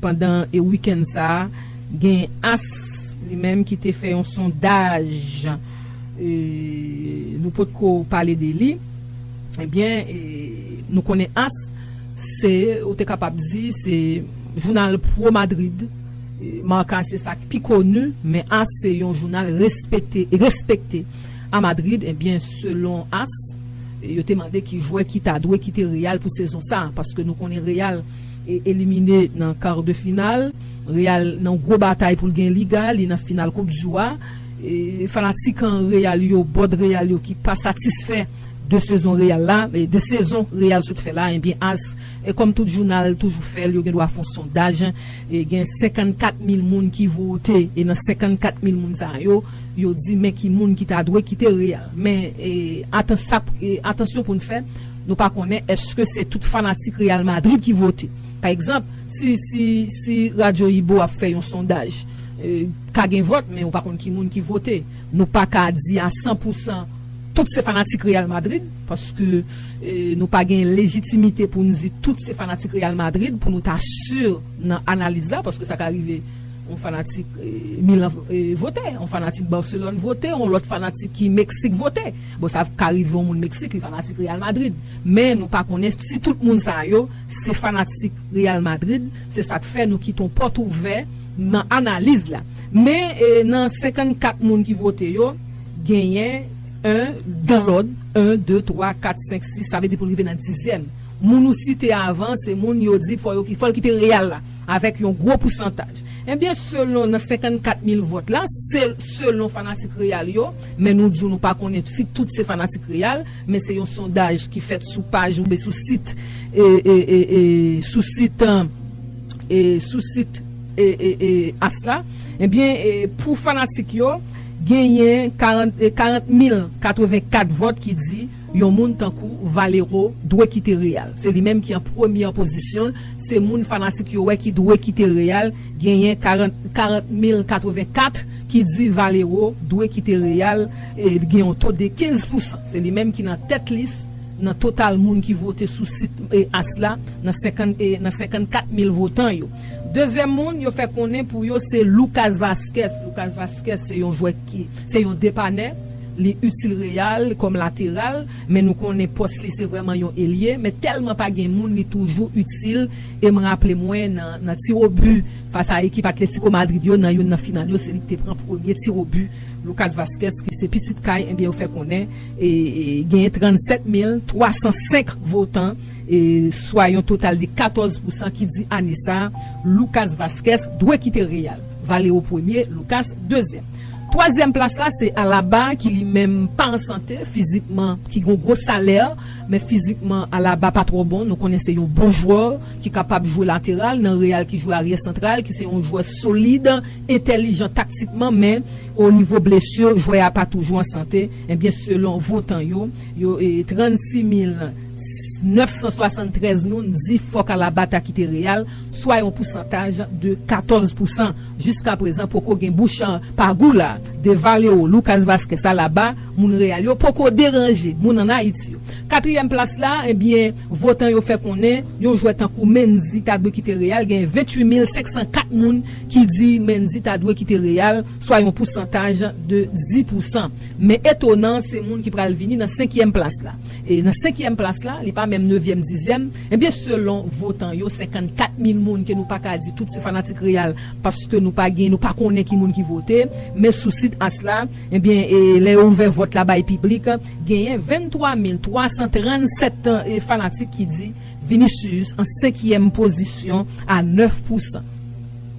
Pandan wikenn sa a, gen as li menm ki te fè yon sondaj, nou potko pale de li, ebyen nou konnen as. Se, ou te kapab di, se jounal pro Madrid. Marca se sa ki pi koni, men as se yon jounal respete, respekte a Madrid. Ebyen, selon as, yo te mande ki jwè ki ta dwe kite Real pou sezon sa. Paske nou konnen Real elimine nan kar de final. Real nan gwo batay pou l gen Liga, li nan final koup du Rwa. Fanatik an Real yo, bòd Real yo ki pa satisfè. 2 sezon real la, 2 sezon real sot fè la ebyen as kòm tout jounal toujou fèl yo gen dwa fon sondaj gen 54 mil moun ki vote e nan 54 mil moun sa yo yo di men ki moun ki ta dwe kite real men atan sa atansyon poun fè nou pa konnen eske se tout fanatik real madrid ki vote pa egzanp si si si radyo ibo ap fè yon sondaj ka gen vòt men ou pa konn ki moun ki vote nou pa ka di a 100 pousan. Tout se fanatik Real Madrid paske nou pa gen lejitimite pou n di tout se fanatik Real Madrid pou nou ta si nan analiz la paske sa ka rive yon fanatik Milan vote yon fanatik Barcelone vote yon lòt fanatik ki Meksik vote bon sa ka rive yon moun Meksik li fanatik Real Madrid men nou pa konnen si tout moun sa yo se fanatik Real Madrid se sa k fè nou kite yon pòt ouvè nan analiz la men nan 54 moun ki vote yo. Genyen 1 dan lòd 1 2 3 4 5 6 sa vle di pou l rive nan dizyèm moun ou site avan se moun yo di fò yo fò l kite Real la avèk yon gwo pousantaj ebyen selon nan 54 mil vòt la se selon fanatik Real yo men nou di w nou pa konnen si tout se fanatik Real men se yon sondaj ki fèt sou paj oubyen sou sit e e e e sou sit e sou sit e e e as la ebyen e pou fanatik yo. Genyen 40.084 vòt ki di yon moun tankou Valero dwe kite Real. Se li menm ki an premyè pozisyon, se moun fanatik yo wè ki dwe kite Real, genyen 40.084 ki di Valero dwe kite Real, gen yon to de 15 pousan. Se li menm ki nan tèt lis nan total moun ki vote sou sit as la nan 54 mil votan yo. Dezyèm moun yo fè konnen pou yo se Lucas Vazquez. Lucas Vazquez se yon jwè ki se yon depanè, li itil Real kòm lateral, men nou konnen pòs li se vrèman yon elye, men tèlman pa gen moun li toujou itil e m raple mwen nan tirobi fas a ekip Atlético Madrid yo nan youn nan final yo se li ki te pran premye tirobi Lucas Vazquez ki se pitit kay enbyen yo fè konnen genyen 37 mil 305 votan swa yon total de 14 pousan ki di ane sa a, Lucas Vazquez dwe kite Real. Valero premye, Lucas dezyèm. Twazyèm plas la se Alaba ki li menm pa an sante fizikman, ki gen yon gwo salè, men fizikman Alaba pa twò bon, nou konnen se yon bon jwè ki kapab jwe lateral nan Real ki jwe aryè santral, ki se yon jwè solid, entèlijan taktikman men o nivo blesur jwè a pa toujou an sante, enbyen selon votan yo, yo 36 mil. 973 moun di fòk Alaba ta kite Real, swa yon pousantaj de 14 pousan. Jiska prezan poko gen bouch pa gou la. De Valero, Lucas Vazquez, Alaba, moun Real yo poko deranje moun an Ayiti yo. Katriyèm plas la, ebyen votan yo fè konnen yon jwè tankou Mendy ta dwe kite Real, gen 28 mil 504 moun ki di Mendy ta dwe kite Real, swa yon pousantaj de 10 pousan. Men etonan se moun ki pral vini nan senkyèm plas la. E nan senkyèm plas la, li pa menm nevyèm dizyèm, ebyen selon votan yo 54 mil moun ke nou pa ka di tout se fanatik Real paske nou pa gen nou pa konnen ki moun ki vote men sou sit as la ebyen e lè yo ouvè vòt la bay piblik genyen 23 mil 337 fanatik ki di Vinicius an senkyèm pozisyon a 9 pousan.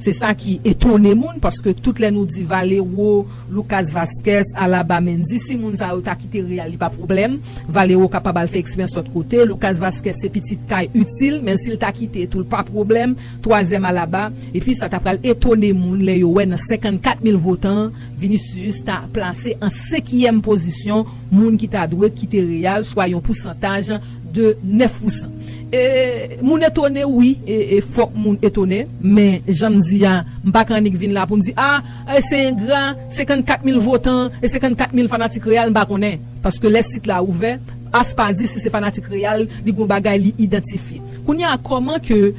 Se sa ki etone moun paske tout lè nou di Valero, Lucas Vazquez, Alaba, Mendy si moun sa yo ta kite Real li pa pwoblèm. Valero kapab al fè eksperyans lòt kote. Lucas Vazquez se pitit kay itil men si l ta kite tou l pa pwoblèm. Twazyèm Alaba. Epi sa ta pral etone moun lè yo wè nan 54 mil votan Vinicius ta plase an senkyèm pozisyon moun ki ta dwe kite Real swa yon pousantaj de 9 pousan e moun etone wi e fok moun etone men janm di a mpa k annik vin la poum di ah e se engra 54 mil votan e 54 mil fanatik real mpa konnen paske lè sit la ouvè as pa di si se fanatik real li gon bagay li idantifye kounya koman ke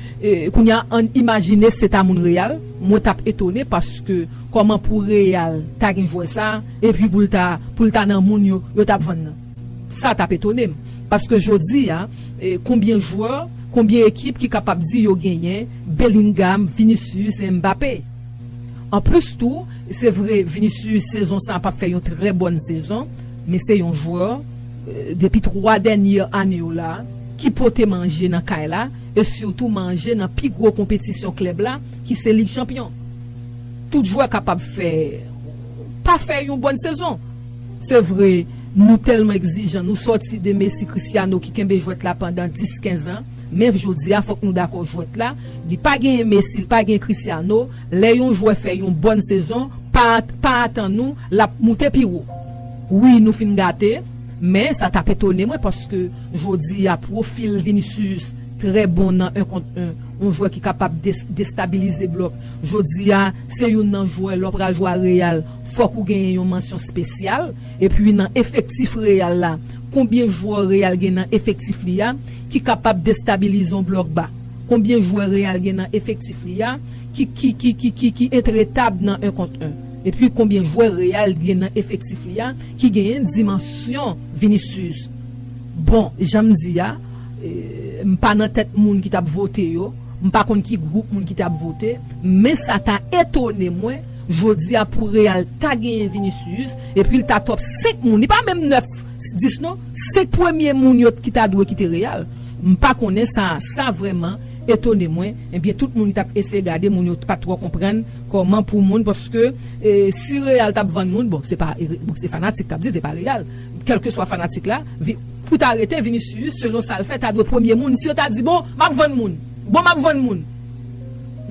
kounya ann imajine se ta moun real mwen tap etone paske koman pou real ta gen jwè sa epi poul ta poul ta nan moun yo yo tap vann nan. Sa tap etone m. Paske jodi a, konbyen jwè, konbyen ekip ki kapab di yo genyen Bellingham, Vinicius et Mbappé? An plis tou, se vre Vinicius sezon sa pap fè yon trè bòn sezon, men se yon jwè, depi 3 dènye ane yo la, ki pote manje nan kay la e sitou manje nan pi gwo konpetisyon klèb la ki se Lig Chanpyon. Tout jwè kapab fè, pa fè yon bòn sezon. Se vre, nou tèlman egzijan, nou sòti de Messi, Cristiano ki kenbe jwèt la pandan 10, 15 an, men jodi a fòk nou dakò jwèt la, li pa genyen Messi, li pa genyen Cristiano, lè yon jwè fè yon bòn sezon, pa pa atann ou lap moute pi wo. Wi nou fin gate, men sa tap etone mwen paske jodi a pwofil Vinicius trè bon nan 1 kont 1, yon jwè ki kapab destabilize blòk. Jodi a se youn nan jwè lè w pral jwe a Real Fòk ou genyen yon mansyon spesyal epi nan efektif Real la konbyen jwè Real gen nan efektif li a ki kapab destabilize yon blòk ba? Konbyen jwè Real gen nan efektif li a ki ki ki ki ki ki intretab nan 1 kont 1? Epi konbyen jwè Real gen nan efektif li a ki genyen dimansyon Vinicius? Bon, janm di a, m pa nan tèt moun ki tap vote yo, m pa konn ki gwoup moun ki tap vote, men sa ta etone mwen, Jodia pou real ta genyen vinicius epil ta top 5 moun li pa menm 9 10 non 5 premye moun yo t ki ta dwe kite real mpa konnen sa sa vreman etone mwen ebyen tout moun tap eseye gade moun yo t pat tro konprann koman pou moun paske si real tap vann moun bon se pa bon se fanatik kap di se pa real kelkeswa fanatik la pou ta rete vinicius selon sal fè ta dwe premye moun si yo ta di bon map vann moun bon map vann moun.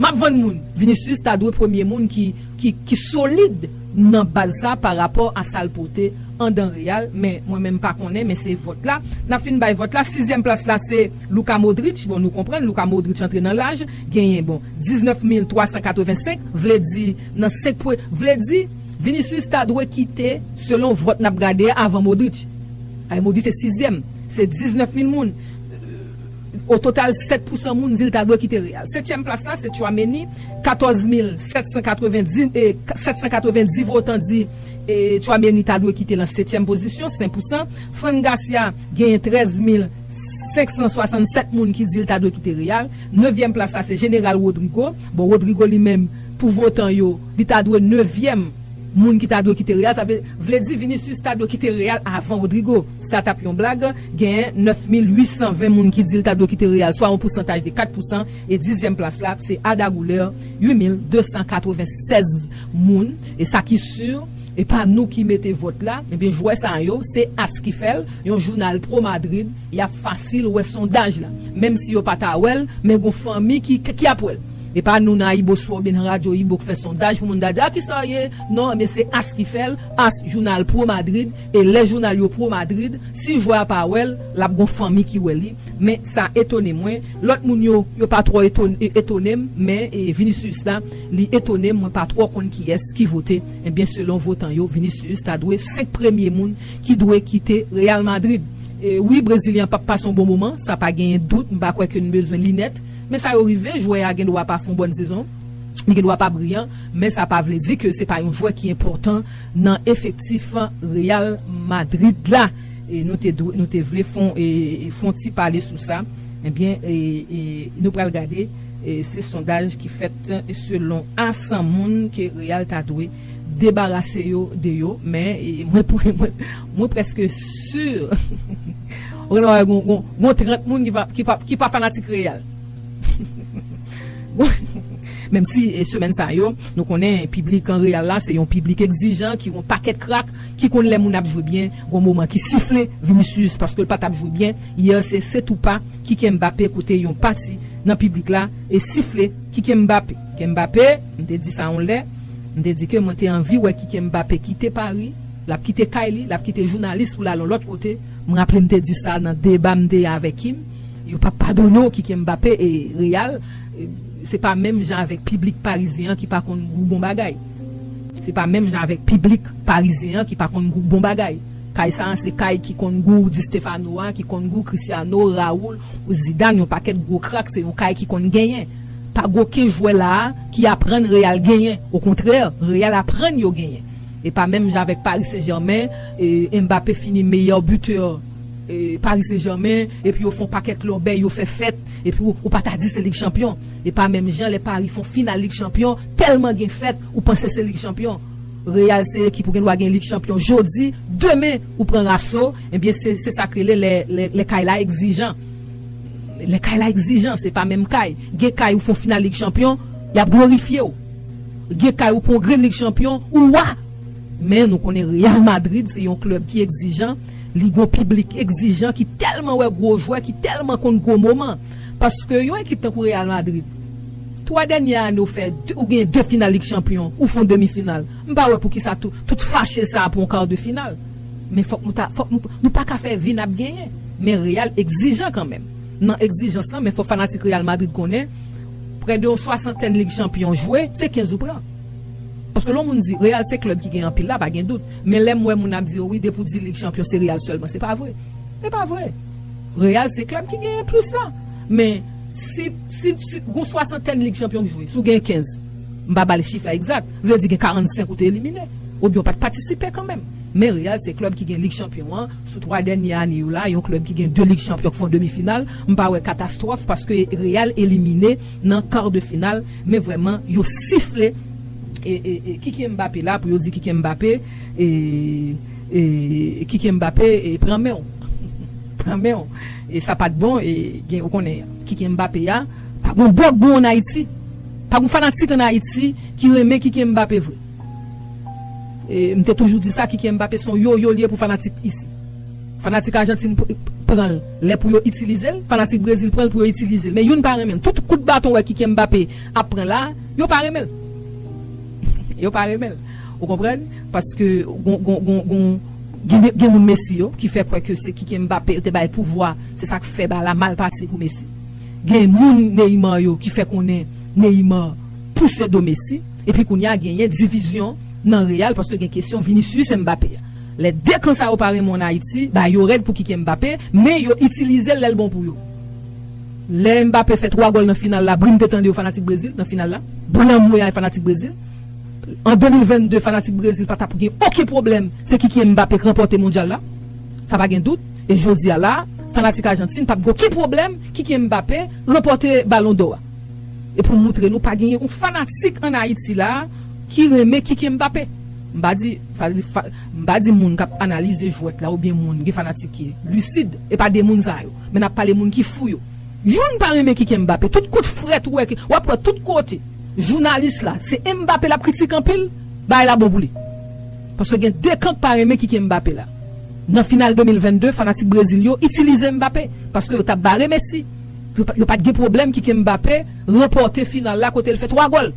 Map vann moun. Vinicius ta dwe premye moun ki ki solid nan baz sa pa rapò a sal pote andan real men mwen menm pa konnen men se vòt la nap fin bay vòt la sizyèm plas la se Luka Modric bon nou konprann Luka Modric antre nan laj genyen bon 19 mil 385 vle di nan 5 pwe vle di Vinicius ta dwe kite selon vòt nap gade a avan Modric ay Modric se sizyèm se 19 mil moun. O total 7 pousan moun di l ta dwe kite Real. Setyèm plas la se Tchouameni, 14 mil 790 votan di Tchouameni ta dwe kite lan setyèm pozisyon, 5 pousan. Fran Garcia genyen 13 mil 567 moun ki di l ta dwe kite Real. Nevyèm plas la se Jeneral Rodrygo. Bon Rodrygo li menm pou votan yo li ta dwe nevyèm moun ki ta dwe kite Real. Sa vle di Vinicius ta dwe kite Real avan Rodrygo. Sa t ap yon blag, gen 9820 moun ki di l ta dwe kite Real swa yon pousantaj de 4 pousan e dizyèm plas la se Arda Güler 8296 moun e sa ki sur e pa nou ki mete vòt la ebyen jwè sa yo se as ki fè l yon jounal pro Madrid y ap fasil wè sondaj la menm si yo pa ta wè l men gon fanmi ki ki ap wè l e pa nou nan AyiboSport oubyen nan radyo Ayibo k fè sondaj pou moun ta di a kisa w ye non ebyen se as ki fè l as jounal pro Madrid E lè jounal yo pro Madrid, si jwè a pa wèl, lap gon fanmi ki wè li, men sa etone mwen, lòt moun yo, yo pa twò etonem, men Vinicius la, li etonem, mwen pa twò konn kiyès ki vote, ebyen selon votan yo, Vinicius ta dwe 5 premye moun ki dwe kite Real Madrid. Wi Brezilyen an pap pase yon bon moman, sa pa genyen dout, m pa kwè ke n bezwen linèt, men sa yo rive, jwè a gen dwa pa fè yon bòn sezon, li gen dwa pa briyan, men sa pa vle di ke se pa yon jwè ki enpòtan. nan efektif Real Madrid la e nou te nou te vle fon fon ti pale sou sa ebyen nou pral gade se sondaj ki fèt selon a 100 moun ke Real ta dwe debarase yo de yo men mwen mwen preske sur ou gen dwa wè gon 30 moun ki pa fanatik Real. Menm si semèn sa yo, nou konnen piblik Real la se yon piblik egzijan ki yon pakèt krak, ki konn lè moun ap jwe byen, gon moman ki sifle Vinicius paske l pa t ap jwe byen yè se se tou pa Kike Mbappé kote yon pati nan piblik la e sifle Kike Mbappé. Kike Mbappé, m te di sa yon lè, m te di ke mwen te anvi wè Kike Mbappé kite Pari, l ap kite kay li, l ap kite jounalis pou l al yon lòt kote, m raple m te di sa nan deba m te avè Kim. Yo pap padone w Kike Mbappé e Real se pa menm jan avèk piblik parizyen an ki pa konn gou bon bagay se pa menm jan avèk piblik parizyen an ki pa konn gou bon bagay kay sa a se kay ki konn gou Di Stéphano a ki konn gou Cristiano Raúl Zidane yon pakèt gwo krak se yon kay ki konn genyen pa gou oken jwè la a ki aprann Real genyen okontrè Real aprann yo genyen e pa menm jan avèk Paris Saint Germain e Mbappé fini meyè buteur Paris Saint Germain epi yo fon pakèt lòbèy yo fè fèt epi ou pa ta di se lig chanpyon epa menm jan lè Paris fon final lig chanpyon tèlman gen fèt ou panse se lig chanpyon Real se ekip ou gen dwa gen lig chanpyon jodi demen ou pran raso ebyen se se sak rele lè kay la ekzijan lè kay la ekzijan se pa menm kay gen kay ou fon final lig chanpyon yap glorifyew gen kay ou pran yon grenn lig chanpyon ou wa. Men nou konnen Real Madrid se yon klèb ki egzijan, li gon piblik egzijan ki tèlman wè gwo jwè, ki tèlman konn gwo moman. Paske yon ekip tankou Real Madrid, 3 dènyè ane ou fè ou gen 2 final lig chanpyon, ou fon demi final. M pa wè poukisa tout fache sa pou yon kar de final. Men fòk nou ta fòk nou nou pa ka fè vin ap genyen. Men Real egzijan kanmenm. Nan egzijans lan men fòk fanatik Real Madrid konnen prè de yon swasantèn lig chanpyon jwe, se 15 ou pran. Paske lè moun di real se klèb ki gen anpil la pa gen dout men lèm wè moun ap di yo wi depi w di lig chanpyon se real sèlman se pa vre se pa vre real se klèb ki genyen plis la men si si si gon swasantèn lig chanpyon k jwe si w genyen 15 m pa ba l chif la egzat vle di gen 45 ou te elimine oubyen w pat patisipe kanmenm men real se klèb ki gen lig chanpyon an sou 3 dènye ane yo la yon klèb ki gen 2 lig chanpyon k fon demi final m pa wè katastwòf paske real elimine nan quart de final men vrèman yo sifle e Kyky Mbappé la pou yo di Kyky Mbappé e Kyky Mbappé e pran menw pran menw e sa pat bon e gen ou konnen Kyky Mbappé a pa gon bòk bon an Ayiti pa gon fanatik an Ayiti ki renmen Kyky Mbappé vre e m te toujou di sa Kyky Mbappé son yoyo li ye pou fanatik isi. Fanatik Argentine pran l lè pou yo itilize l, fanatik Brezil pran l pou yo itilize l. Men youn pa renmen l. Tout kout baton ou wè Kyky Mbappé ap pran la a, yo pa renmen l. Yo pa renmen l. Ou konprann? Paske gen moun Messi yo ki fè kwè ke se Kyky Mbappé yo te bay pouvwa, se sa k fè bal la mal pase pou Messi. Gen moun Neymar yo ki fè konnen Neymar pouse do Messi. Epi kounye a genyen divizyon nan Real paske gen kesyon Vinicius Mbappé a. Lè 2 kan sa yo pa renmen w Ayiti, ba yo rèd pou kike Mbappé, men yo itilize l lè l bon pou yo. Lè Mbappé fè 3 gòl nan final la, bri m te tande yo fanatik Brezil nan final la. Bri anmweyaay fanatik Brezil. An 2022 fanatik Brezil pa tap gen oken pwoblèm se Kykyien Mbappé k ranpòte mondyal la. Sa pa gen dout. E jodi a la, fanatik Ajantin pap gen oken pwoblèm Kykyien Mbappé ranpòte balon dò a. e pou m moutre nou pa gen yon fanatik an Ayiti la ki renmen Kyky Mbappé. M pa di, sa vle di, m pa di moun k ap analize jwèt la oubyen moun gen fanatik ki lisid, e pa de moun sa yo, men n ap pale moun ki fou yo. Youn pa renmen Kyky Mbappé, tout kout frèt ou wè ke, w ap wè tout kote, jounalis la, se Mbappé l ap kritike anpil, bagay la bon pou li. Paske gen de kan k pa renmen Kyky Mbappé la. Nan final 2022, fanatik Brezil yo itilize Mbappé, paske yo t ap bare Messi. Yo pat gen pwoblèm kike Mbappé ranpòte final la kote l fè 3 gòl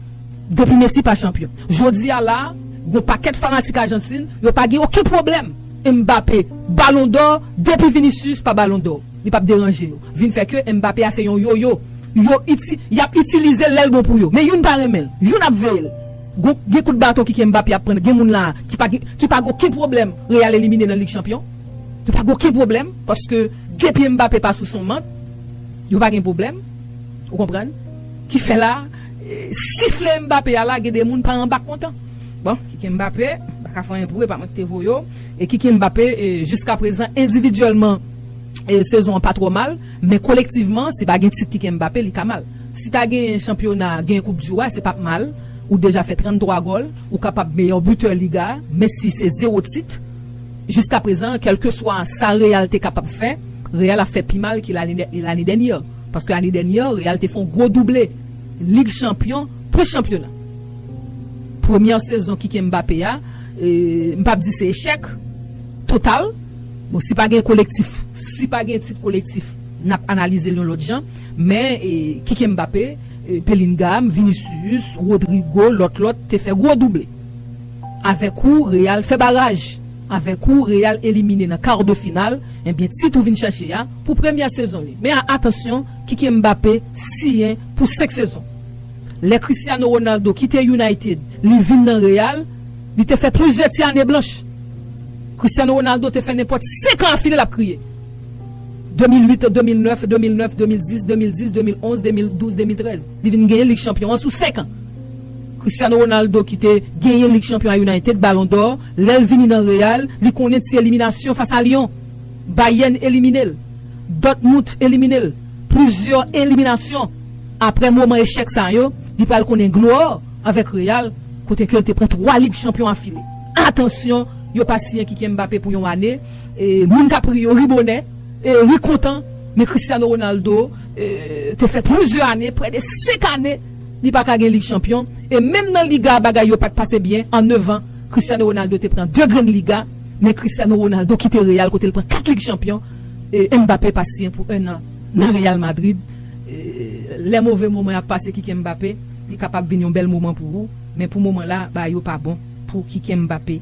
depi Messi pa chanpyon. Jodi a la a, gon pakèt fanatik Ajantin yo pa gen oken pwoblèm Mbappé Balon dò depi Vinicius pa Balon dò. Li pap deranje yo. Vin fè ke Mbappé a se yon yoyo. Yo iti, yap itilize l lè l bon pou yo. Men youn pa renmen l. Youn ap veye l. Gon, gen kout baton kike Mbappé ap pran. Gen moun la a ki pa gen, ki pa gen oken pwoblèm Real elimine nan Lig Chanpyon. Yo pa gen oken pwoblèm paske depi Mbappé pa sou son mant, yo pa gen pwoblèm. Ou konprann? Ki fè la, sifle Mbappé a la gen de moun pa anba kontan. Bon, Kyky Mbappé pa ka fè anyen pou ou, e pa mwen ki te voye w. E Kyky Mbappé, jiska prezan endividyèlman sezon an pa twò mal, men kolektivman si pa gen tit Kyky Mbappé li ka mal. Si ta genyen chanpyona, genyen koup di wa, se pap mal. Ou deja fè 33 gòl, ou kapab meyè bitè liga, men si se zewo tit, Jiska prezan, kèlkeswa sa Real te kapab fè, Real ap fè pi mal ke lane dènyè, paske ane dènyè Real te fè yon gwo double Lig Chanpyon plis chanpyona. Premyè sezon Kike Mbappé a, m pap di se echèk total, bon si pa gen kolektif, si pa gen tit kolektif n ap analize l yon lòt jan, men Kike Mbappé, Bellingham, Vinicius, Rodrygo, lòt lòt te fè gwo double. Avèk ou Real fè baraj! Avèk ou Real elimine nan kar de final, ebyen tit ou vin chache a pou premyè sezon li. Men atansyon, Kiki Mbappé siyen pou 5 sezon. Lè Cristiano Ronaldo kite United li vin nan Real, li te fè plizyè ti ane blanch. Cristiano Ronaldo te fè nenpòt 5 an afile l ap kriye. 2008, 2009, 2009, 2010, 2010, 2011, 2012, 2013. Li vin genyen lig chanpyon an sou 5 an. Cristiano Ronaldo ki te genyen lig chanpyon a United, Ballon d'or, lè l vini nan Real, li konnen ti eliminasyon fas a Lyon. Bayern elimine l. Dortmut elimine l. Plizyè eliminasyon. Aprè moman echèk sa yo, li pral konnen glwa avèk Real kote ke l te pran 3 lig chanpyon afile. Atansyon, yo pa siyen Kykyèn Mbappé pou yon ane. Moun k ap ri yo ri bonè, ri kontan, men Cristiano Ronaldo te fè plizyè ane, prè de 5 ane, Li pa ka gen Lig Chanpyon e menm nan Liga a bagay yo pat pase byen an 9 an Cristiano Ronaldo te pran 2 grenn Liga men Cristiano Ronaldo kite Real kote l pran 4 Lig Chanpyon e Mbappé pa siyen pou 1 an nan Real Madrid e lè move moman y ap pase Kyky Mbappé li kapab vin yon bèl moman pou ou men pou moman la bagay yo pa bon pou Kyky Mbappé.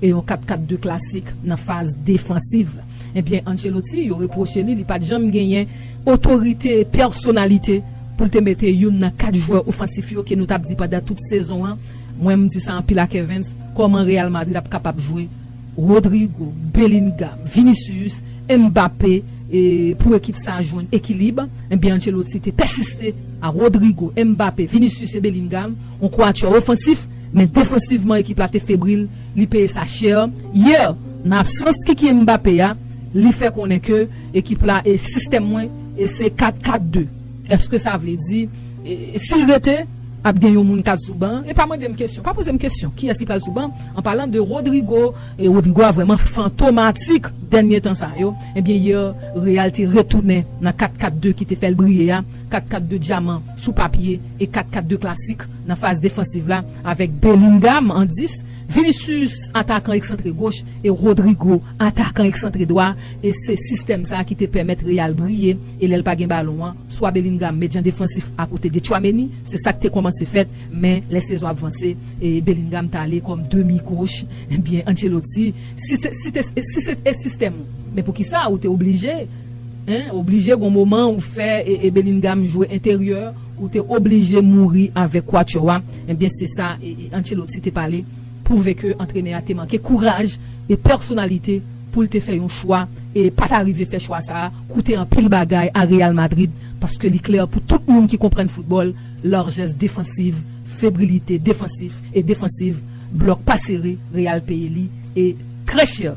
E yon 4-4-2 klasik nan faz defansiv. Ebyen Ancelotti yo repwoche li li pat janm genyen otorite, pèsonalite pou l te mete youn nan 4 jwè ofansif yo ke nou tap di pandan tout sezon an, mwen m di sa anpil a Kervens, kòman Real Madrid ap kapab jwe Rodrygo, Bellingham, Vinicius, Mbappé e pou ekip sa jwenn ekilib. Ebyen Ancelotti te pèsiste a Rodrygo, Mbappé, Vinicius e Bellingham, yon quatuor ofansif. Men defansivman ekip la te febril, li peye sa chè yè nan absans Kiki Mbappé a, li fè konnen ke ekip la e sistèm mwen e se 4 4 2 eske sa vle di si l rete ap gen yon moun kap sou ban e pa mande m kesyon pa poze m kesyon kiyès ki pral sou ban an palan de Rodrygo e Rodrygo a vrèman fantomatik dènye tan sa yo ebyen yè Real te retounen nan 4 4 2 ki te fè l briye a 4 4 2 dyaman sou papye e 4 4 2 klasik Nan faz defansiv la, avèk Bellingham an 10, Vinicius, atakan eksantre goch, e Rodrygo, atakan eksantre dwa, e se sistèm sa ki te pèmèt Real briye, e lè l pa gen balon an, swa Bellingham met jan defansif akote de Tchouaméni, se sa k te kòmanse fèt, men lè sezon ap vanse, e Bellingham t ale kòm demi goch, ebyen Ancelotti, si se si te si se te sistèm ou, men poukisa ou te oblije, hein, oblije gon moman ou fè e Bellingham jwe enteryè. Ou te oblije mouri avèk Cuatro a, ebyen se sa Ancelotti te pale, pwouve ke antrenè a te manke kouraj e pèsonalite pou l te fè yon chwa e pa ta rive fè chwa sa a koute anpil bagay a Real Madrid paske li klè pou tout moun ki konprann foutbòl larjès defansiv, febrilite defansif e defansiv blòk pa sere Real peye li e trè chè.